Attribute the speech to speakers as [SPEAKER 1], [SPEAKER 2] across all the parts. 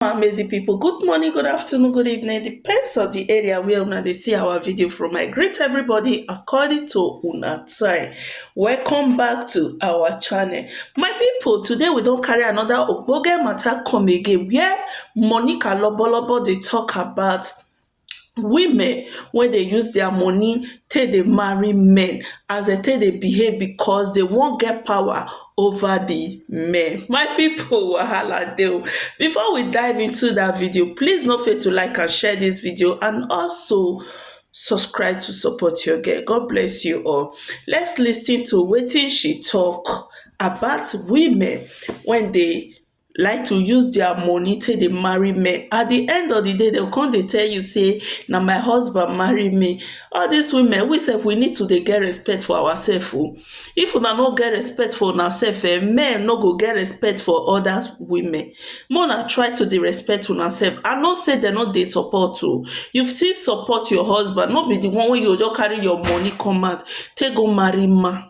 [SPEAKER 1] my amazing people good morning good afternoon good evening depends on the area where una dey see our video from i greet everybody according to una time welcome back to our channel my people today we don carry another ogbonge matter come again where monica lobolobo dey talk about women wey dey use dia money take dey marry men as dem take dey behave because dey wan get power over di men my people wahala dey o before we dive into dat video please no fail to like and share dis video and also subscribe to support your girl God bless you all let's listen to wetin she talk about women wey dey like to use dia money take dey marry men at di end of di day dem go come dey tell you say na my husband marry me all dis women we sef we need to dey get respect for our sef oh if una no get respect for una sef um men no go get respect for odas women make una try to dey respect una sef I know say dem no dey support oh you still support your husband no be di one wey you go just carry your money come out take go marry man.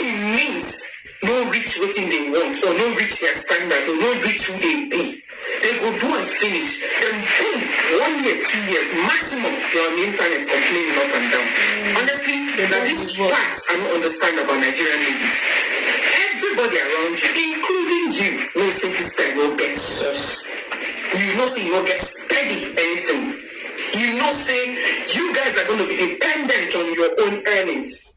[SPEAKER 1] Im means no reach wetin dem want or no reach dia standard or no reach who dem be, dem go do am finish den boom, one year, two years maximum you're on di internet complaining up and down. Honestly, na dis part I no understand about Nigerian ladies, everybody around you including you know say dis guy no get source, you know say you no get steady anything, you know say you guys are gonna be dependent on your own earnings,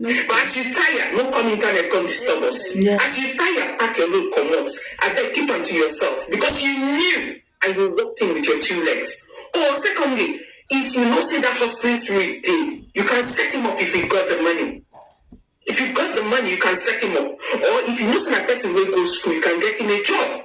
[SPEAKER 1] No. But as you tire, no come internet come disturb us. Yeah. As you tire, pack your load comot. Abeg keep am to yourself because you knew and you walked in with your two legs. Or secondly, if you know say that hustling spirit dey, you can set him up if you've got the money. If you've got the money, you can set him up. Or if you know say na person wey go school, you can get him a job.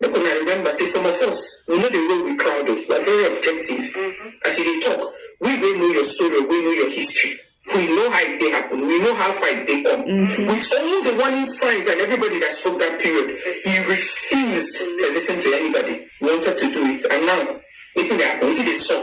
[SPEAKER 1] Make una remember say some of us we no dey roll with crowd o, we're very objective as you dey talk, we wey know your story or wey know your history we know how e take happen, we know how far e take come with all the warning signs and everybody that spoke that period he refused to listen to anybody, he wanted to do it and now wetin dey happen, wetin dey sup?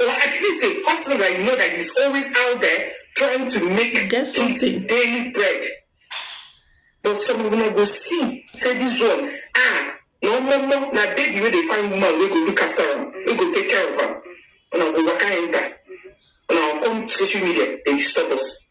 [SPEAKER 1] Or at least a person that you know that is always out there trying to make Get his something. daily bread. But some of una go see say this one ah na omomo na baby wey dey find woman wey go look after am wey go take care of am una go waka enter una go come social media dey disturb us.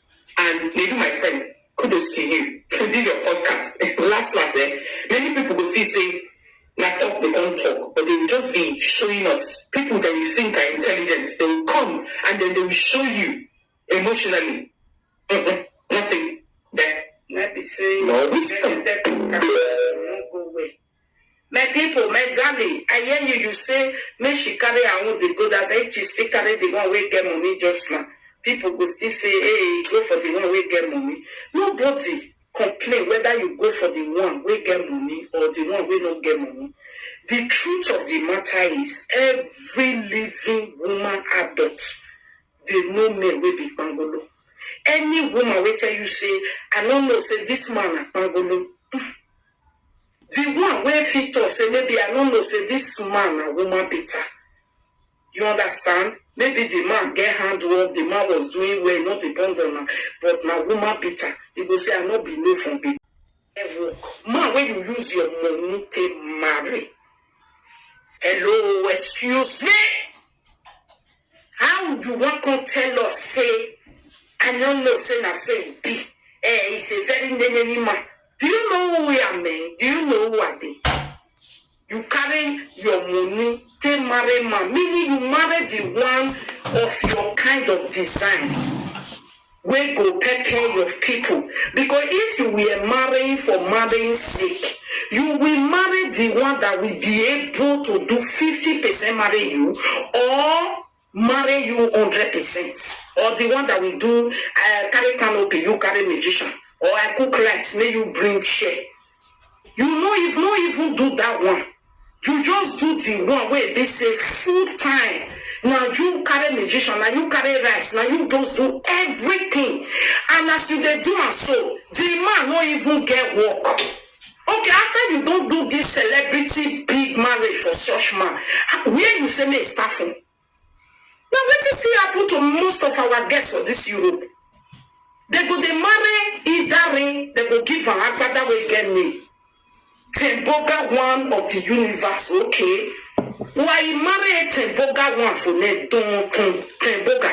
[SPEAKER 1] and Nedu my friend kudos to you for this your podcast last last eh many people go feel say na talk they come talk but they will just be showing us people that you think are intelligent they will come and then they will show you emotionally Mm-mm, nothing there. na be say No, we stop. dem dey talk am, e no go well. My people, my darling, I hear you, you say make she carry her own dey go that side, if she still carry the one wey get money just now, people go still say hey, go for the one wey get money, nobody complain whether you go for the one wey get money or the one wey no get money, the truth of the matter is every living woman adult dey know men wey be kpangolo, any woman wey tell you say I no know say this man na kpangolo, um. Di one wey fit tok sey maybe I no know sey dis man na woman beater, you understand, maybe di man get hand work, di man was doing well, e no depend on am, but na woman beater, e go sey I no be no from be. Get work, man wey you use your money take marry, hello, excuse me! How you wan come tell us say I no know say na so e be eh is a very neneni man do you know who I am eh do you know who I be you carry your money take marry man meaning you marry the one of your kind of design wey go pepper your pipo, becos if you were marrying for marrying sake, you will marry di one dat will be able to do fifty percent marry you or marry you hundred percent or di one dat will do I carry canopy you carry magician or I cook rice make you bring share You no even no even do that one, you just do the one wey be say full time na you carry musician, na you carry rice, na you just do everything and as you dey do am so, the man no even get work. Okay after you don do this celebrity big marriage for such man, where you say make he start from? Na wetin still happen to most of our girls for this Europe, dem go dey marry idare dem go give am agbada wey get name, Temboga one of the universe okay wa i marry e Temboga one for name ton ton Temboga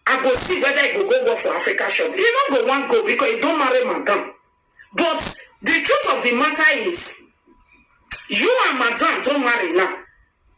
[SPEAKER 1] i go see whether e go go work for Africa shop e no go wan go because e don marry madam but the truth of the matter is you and madam don marry now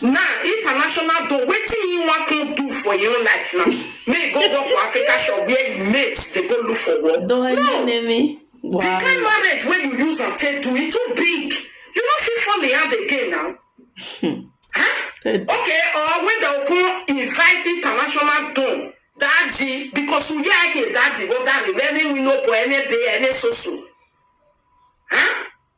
[SPEAKER 1] Now international don wetin he wan come do for im own life now make he go work for africa shop where im mates dey go look for work no the kind marriage wey you use am take do e too big you no fit fall in hand again now huh? okay or wey dem come invite international don daji because we hear ake daji go dari very we no boy any day any so so huh?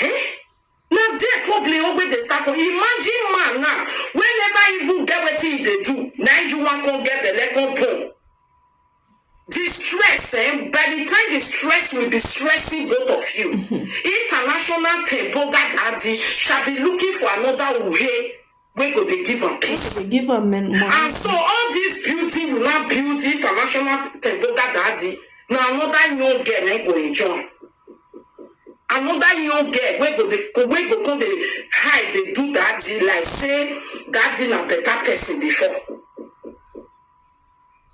[SPEAKER 1] Eh? na there problem wey dey start from imagine man now wey never even get wetin he dey do na you wan come get belle come born the stress eh by the time the stress will be stressing both of you international tempo gadadi shall be looking for another uhe wey go dey give am peace. Wey go dey give am money. And so all this building you now build international temboga daddy na another young girl na go enjoy am. Another young girl wey go dey wey go come dey hide dey do daddy like say daddy na better person before.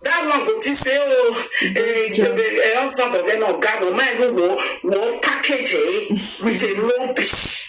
[SPEAKER 1] That one go think say oh eh, eh, husband of them oga no mind who wo wo package eh with a rubbish.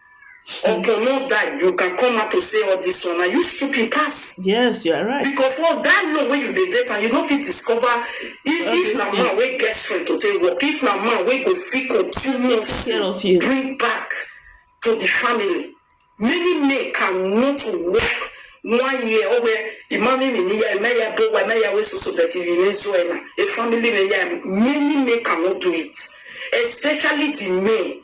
[SPEAKER 1] Obono die you can come out to say all this one na you stupid pass. Yes, you are right. Because for that long wey you dey date am, you no fit discover if All if these na man things. wey get strength to take work, if na man wey go fit continuously care of you. bring back to the family. Many men cannot work one year or where imami mi ni ya emeya bo wa emeya we soso but you remain so ena a family me ya many men cannot do it especially the men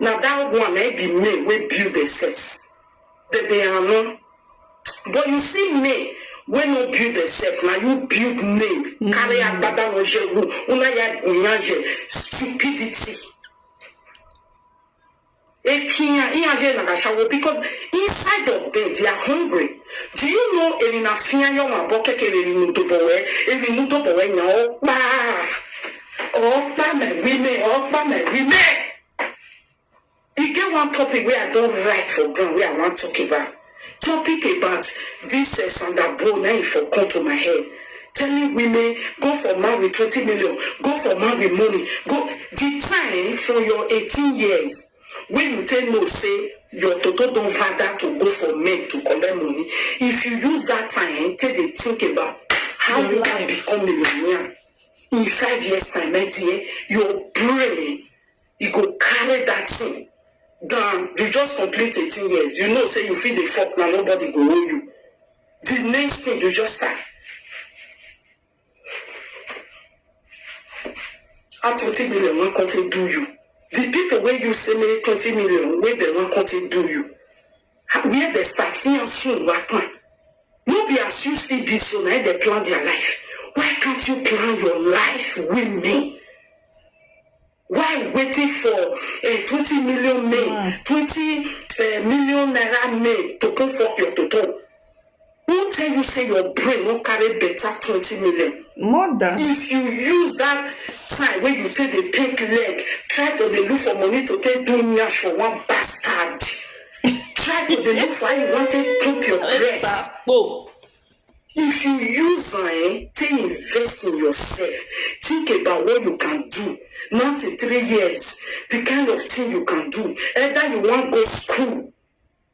[SPEAKER 1] Na that one na im be men wey build themselves dem dey ano but you see men wey no build themselves na you build men carry agbada no je wu una ya gun yan je stupidity Eki yan i yan je na ga shawo because inside of them they are hungry do you know eri na fi yan yo ma bo keke eri nu do bo we eri nu do bo we yan o kpa All by my women, all by my women. E get one topic wey I don write for ground wey I wan talk about. Topic about this uh, Sandra Bow na e for come to my head. Telling women go for man with twenty million, go for man with money, go the time from your eighteen years wey you take know say your toto don father to go for men to collect money. If you use that time take dey think about how Your you can life. become millionaire. In five years time my dear, your brain e go carry that thing down, you just complete eighteen years you know say you fit dey fuck now nobody go owe you, the next thing you just start how twenty million wan come take do you, the people wey you say make twenty million wey dem wan come take do you. I where dem start see am soon Wackman no be as you still be so na im dem plan their life why can't you plan your life with me why waiting for eh, twenty million men twenty eh, million naira men to come fuck your toto Who tell you say your brain no carry better twenty million? More than. If you use that time wey you take dey take leg try to dey look for money to take do nyash for one bastard, try to dey look for how you wan take pump your breast. Ekpakpo. If you use am um take invest in yourself, think about what you can do now till three years, the kind of thing you can do, either you wan go school,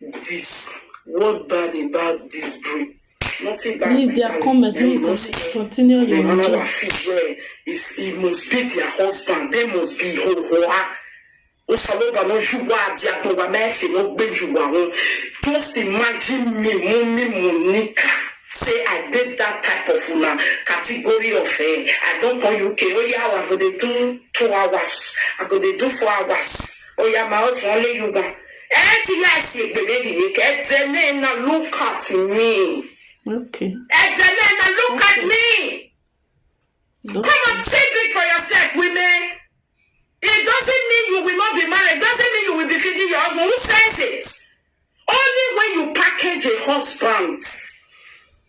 [SPEAKER 1] this what bad about this dream nothing bad leave their comment make you continue your job another fee where is he must be their husband they must be ho ho ah osaloba no juwa adi atowa mẹsẹ no gbé juwa ho just imagine me mo mi mo nika say i dey that type of una category of eh i don come uk oya oh, i go dey do two hours i go dey do four hours oya oh, my husband only you wan. Ẹ ti ya si egbe mi ri ni kẹ ẹ dẹ nẹ ena look at me. Okay. Ẹ dẹ nẹ ena look at me. Come Okay. on, think big for yourself, women. It doesn't mean you will not be married. It doesn't mean you will be feeding your husband. Who says it? Only when you package a husband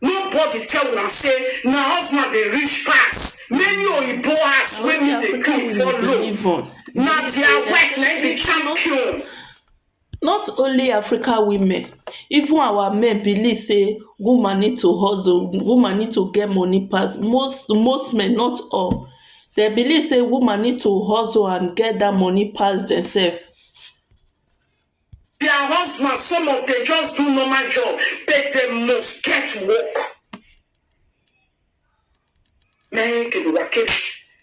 [SPEAKER 1] Nobody tell una say na husband dey rich pass, many oyibo house wey me dey clean for low, na their wife na im be champion. Not only Africa women, even our men believe say woman need to hustle, woman need to get money pass most most men not all, dem believe say woman need to hustle and get dat money pass dem sef. Their husbands some of dem just do normal job but dem must get work. Many people were killed.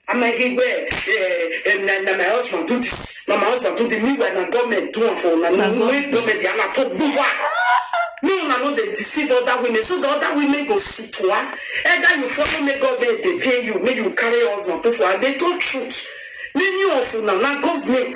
[SPEAKER 1] I'm like, hey, well, eh, eh, na, na my husband do this, na my husband do this. Meanwhile, na government do am for una. Na no way government dey na talk buwa. Me una no dey deceive other women, so the other women go sit one. Either you follow me, government dey pay you, make you carry your husband put for. And they told truth. Many of una na government.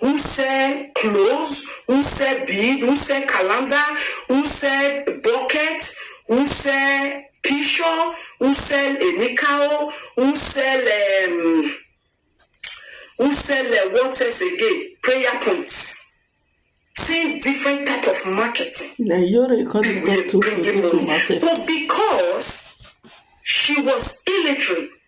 [SPEAKER 1] who sell clothes, who sell bead, who sell calendar, who sell bucket, who sell pishur, who sell enikao, who sell um who sell um what else again, prayer points. Same different type of marketing. Na Yoro you come dey People talk dey to for bring in this money. market. But because she was illiterate,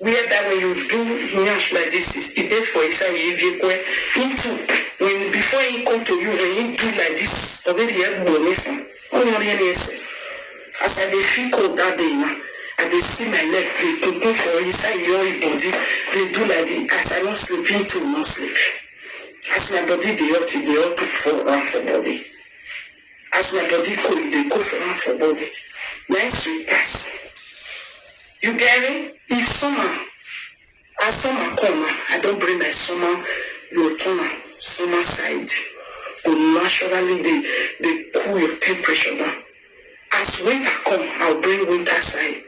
[SPEAKER 1] Where that when you do nyash like this is e dey for inside e ebiekwe him too when before him come to you when him do like this obedi egbo nisin onyori eni ese as I dey feel cold that day na I dey see my leg dey kunkun for inside your e body dey do like this as I no sleep him too no sleep as my body dey hot e dey hot am for am for body. As una body cold you dey go for am for body na im sweet pass you gerri if summer as summer come na I don bring my summer your turner summer side go naturally dey dey cool your temperature down as winter come I will bring winter side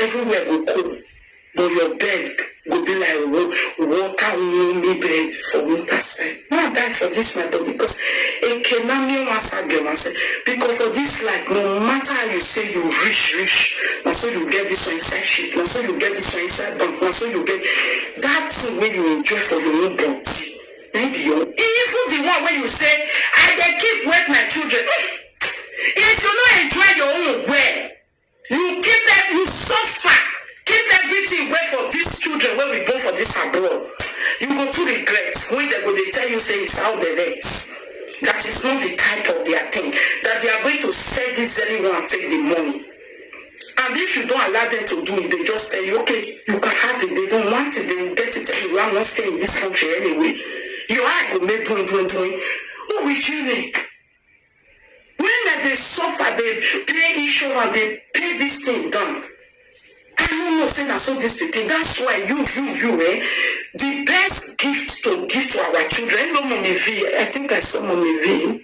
[SPEAKER 1] everywhere go cool. But your bed go be like water warming bed for winter side. May I die for this my body cos eke na me wan sa get wan say because for this life no matter how you say you rich rich na so you get this one inside ship na so you get this one inside bank na so you get that thing wey you enjoy for your own body na him be your own even the one wey you say I dey keep wet my children if you no enjoy your own well You keep e you suffer keep everything wey for this children wey we born for this abroad you go too regret wey dem go dey tell you say is how dem earth that is not the type of their thing that they are going to sell this very one and take the money and if you don't allow them to do it they just tell you okay you can have it they don't want it they will get it anyway I won't stay in this country anyway your eye go make doing doing doing who will you make Women dey suffer dey pay insurance dey pay this thing down I no know say na so this pikin that's why you you you eh the best gift to give to our children hello mummy Vee I think I saw mummy Vee.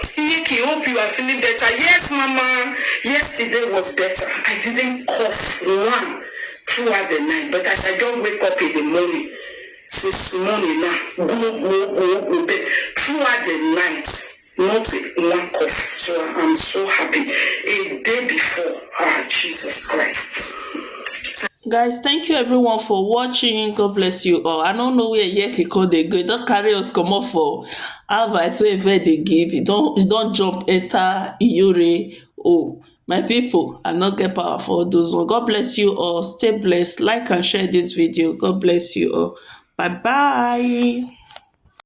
[SPEAKER 1] Kiyeki hope you are feeling better yes mama yesterday was better I didn't cough one throughout the night but as I just wake up in the morning since morning na gwo gwo gwo gwo but throughout the night not one cough so I'm so happy a day before ah Jesus Christ. Guys, thank you everyone for watching. God bless you all. I don't know where Yeki code they go. Don't carry us come off for Advice wey Ife dey give, e don e don jump enter iyore o. My pipu, I no get power for all those one. God bless you all. Stay blessed. Like and share dis video. God bless you all. Bye bye.